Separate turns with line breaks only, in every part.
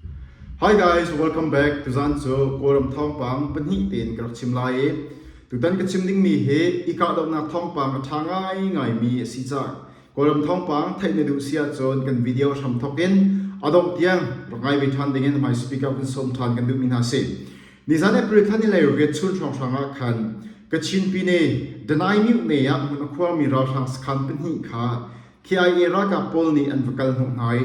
Hi guys, welcome back. Tuzan cu Kawlram thawngpang pahnih tein ka rak chim lai i tutan ka chim dingmi hi i kahdohnak thawngpang a ṭha ngaingaimi a si cang. Kawlram thawngpang theih na duh si ahcun kan video hram thawk in a dongh tiang rak ngai ve ṭhan dingin hmai speaker vun sawm ṭhan kan duhmi hna si. Nizan April thla ni lei riat chun hrawnghrang ah khan Kachin Pine Danai Myut ne ah hmun a khuarmi ralhrang sakhan pahnih kha KIA ralkap pawl nih an va kal hnawh hna i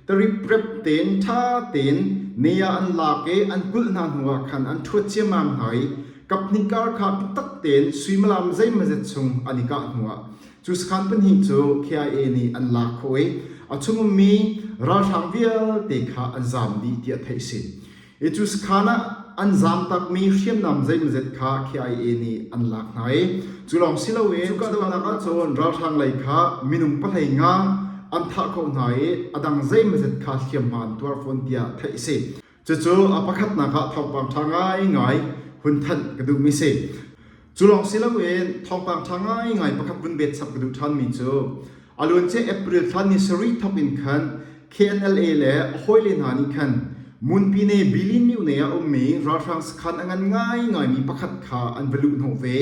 tariprep tein ṭha tein ne ah an lak i an kulh hna hnu ah khan an ṭhuat ciammam hna i kaphnih kar kha biatak tein suimilam zeimazet chung an i kah hnu ah cu sakhan pahnih cu KIA nih an lak khawh i a chung ummi ralhrang vialte kha an zam dih tiah theih a si. Ecuskhan ah an zaam takmi hriamnam zeimawzet kha KIA nih an lak hna i cu lawng si loin kahdohnak ahcun ralhrang lei kha minung pahlei nga an thah khawh hna i a dang zeimawzet kha hliamhma an tuar fawn tiah theih a si. Cucu a pakhatnak ah thawngpang ṭha ngaingai hun thanh ka duhmi a si. Cu lawng si loin thawngpang ṭha ngaingai pakhat vun bet chap ka duh ṭhanmi cu a luancia April thla ni sarih thok in khan KNLA le a hawile hna nih khan Munpine Bilin-Myo nei ah a ummi ralhrang sakhan a ngan ngaingaimi pakhat kha an va luh hnawh ve.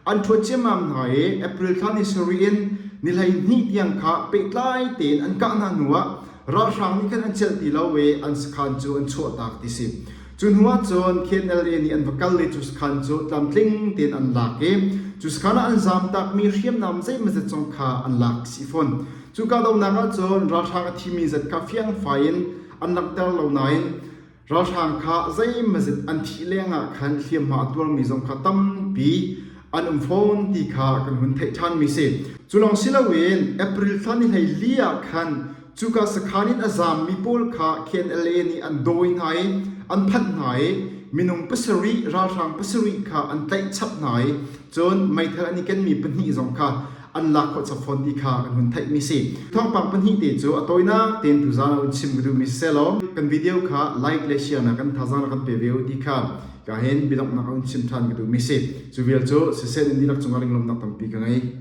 An ṭhuat ciammam hna i April thla ni sarih in ni hleihnih tiang kha pehtlai tein an kah hna hnuah ralhrang nih khan an celh ti lo i an sakhan cu an chuahtak ti si. Cu hnuah cun KNLA nih an va kal i cu sakhan cu tlamtling tein an lak i cu sakhan ah an zaam takmi hriamnam zeimazet zong kha an lak si fawn. Cu kahdohnak ahcun ralhrang a thimi zat kha fiangfai in an langhter lo nain ralhrang kha zeimazet an thih lengah khan hliamhma a tuarmi zong kha tampi an um fawn ti kha kan hun theih ṭhanmi a si. Cu lawng si loin April thla ni hlei li ah khan Cuka sakhaan in a zaammi pawl kha KNLA nih an dawi hna i an phanh hna i minung pasarih ralhrang pasarih kha an tlaihchap hna i cun meithal an i kenmi pahnih zong kha an lak khawh chap fawn ti kha kan hun theihmi si. Thawngpang pahnih te cu a tawinak tein tu zaan ah hun chim ka duhmi sisehlaw kan video kha like le share nak kan thazang na kan pe ve u ti kha ka hin biadonghnak a hun chim ṭhan ka duhmi si. Cu vial cu siseh nan dihlak cungah ringlawmnak tampi ka ngei.